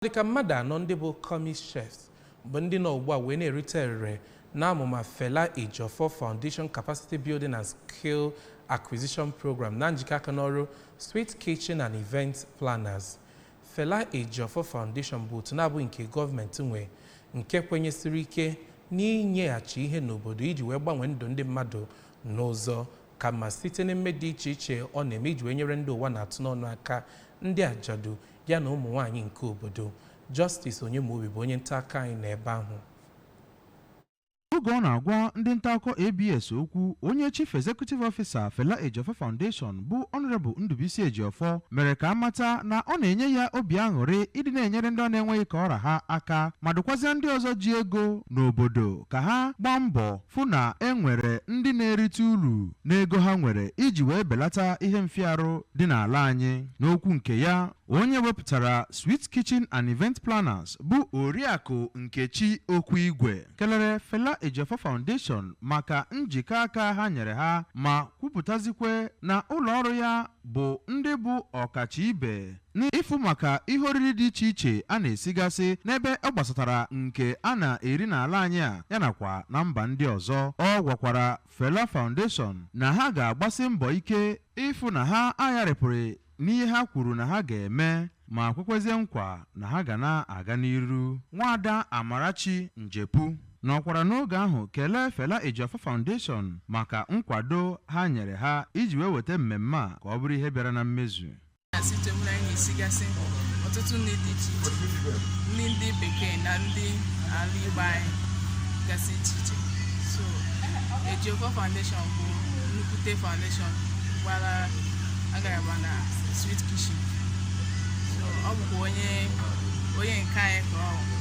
Ọ dị ka mmadụ anọ ndị bụ Commis Chefs bụ ndị nọ ugbu a wee na-erite erere n'amụma Fela Ejiofor Foundation Capacity Building and Skill Acquisition Program na njikọ aka n'ọrụ Sweet Kitchen and Event Planners. Fela Ejiofor Foundation bụ otu na-abụghị nke gọọmenti nwe nke kwenyesiri ike n'inyeghachi ihe n'obodo iji wee gbanwee ndụ ndị mmadụ n'ụzọ ka mma site n'emme dị iche iche ọ na-eme iji wee nyere ndị ụwa na-atụ n'ọnụ aka ndị ajadu ya na ụmụ nwaanyị nke obodo. Justice Onyemobi bụ onye nta akụkọ anyị nọ ebe ahụ. Oge ọ na-agwa ndị nta akụkọ ABS okwu, onye Chief Executive Officer Fela Ejiofor Foundation bụ Honourable Ndubuisi Ejiofor mere ka a mata na ọ na-enye ya obi aṅụrị ịdị na-enyere ndị ọ na-enweghị ka ọ ra ha aka ma dụkwazịa ndị ọzọ ji ego n'obodo ka ha gbaa mbọ fụ na e nwere ndị na-erite uru n'ego ha nwere iji wee belata ihe mfịa arụ dị n'ala anyị n'okwu nke ya onye wepụtara Sweet Kitchen and Event Planners bụ Oriakụ Nkechi Okwuigwe kelere Fela Ejiofor Foundation maka njikọ aka ha nyere ha ma kwupụtazikwe na ụlọ ọrụ ya bụ ndị bụ ọkacha ibe n'ịfụ maka ihe oriri dị iche iche a na-esigasị n'ebe ọ gbasatara nke a na-eri n'ala anyị a ya nakwa na mba ndị ọzọ ọ gwakwara Fela Foundation na ha ga-agbasi mbọ ike ịfụ na ha agharịpụghị n'ihe ha kwuru na ha ga-eme ma kwekwezie nkwa na ha ga na-aga n'iru nwaada Amarachi Njepu nọkwara n'oge ahụ kelee Fela Ejiofor Foundation maka nkwado ha nyere ha iji wee weta mmemme a ka ọ bụrụ ihe bịara na mmezu na-asị chewere anyị esigasị ọtụtụ nri dị iche iche nri ndị bekee na ndị ala igbo anyị gasị iche iche so Ejiofor foundation bụ nnukwute foundation gbara agaraba na sweet kitchen so ọ bụkwa onye nke anyị ka ọ bụ.